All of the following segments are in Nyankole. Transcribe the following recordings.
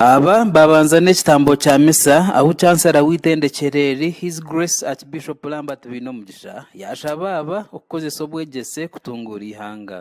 Aba babanza n'ekitambo kya misa ahu Chancellor w'eitendekyero eri His Grace Archbishop Lambert Bainomugisha yashaba aba okukozesa obwegyese kutunguura eihanga.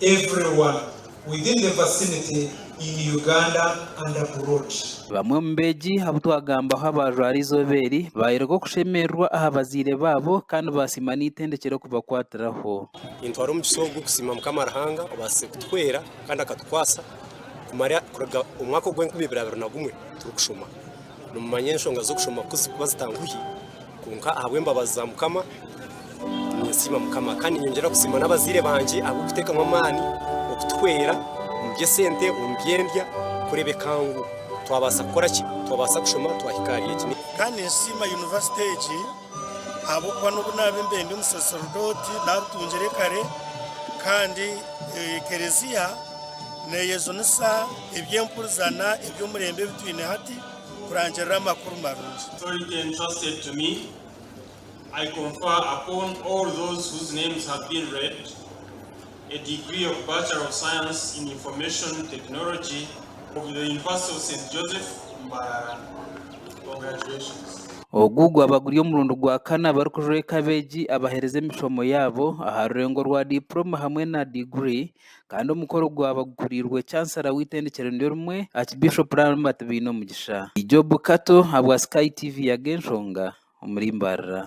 everyone within the vicinity in Uganda and abroad. Bamwe omu beegi abu twagambaho abaajwara eizooba eri baayoreka okushemererwa aha bazaire baabo kandi baasiima n'eitendekyero kubakwatiraho. Nintwara omugisha ogu kusiima Mukama Ruhanga obaasize kutuhwera kandi akatukwasa kumara kuruga omwaka ogw'enkumi ibiri abiri na gumwe turikushoma. Nimumanya enshonga z'okushoma kuzi kuba zitanguhi, kwonka ahabw'embabazi za Mukama ninsiima Mukama kandi ninyongyera kusiima n'abazaire bangye ahabw'okuteekamu amaani okutuhwera omu by'esente, omu by'endya kureebeka ngu twabaasa kukora ki? Twabaasa kushoma twahika ahari egi. Kandi ninsiima yunivasite egi ahabw'okuba n'obu naabe mbendi omusaserdooti naabitungire kare kandi Ekereziya neeyejunisa. Eby'empurizana eby'omurembe ebi twine hati kurangirira amakuru marungi. Authority entrusted to me, I confer upon all those whose names have been read, a degree of Bachelor of Science in Information Technology of the University of Saint Joseph, Mbarara. Congratulations. Ogu gwaba guri omurundi gwa kana abarikujweeka abeegi abahereza emishomo yaabo aha rurengo rwa Diploma hamwe na Degree kandi omukoro gwaba gukuriirwe Chancellor w'eitendekero niryorimwe Archbishop Lambert Baineomugisha. Job Kato ahabwa Sky TV Yaga Enshonga omuri Mbarara.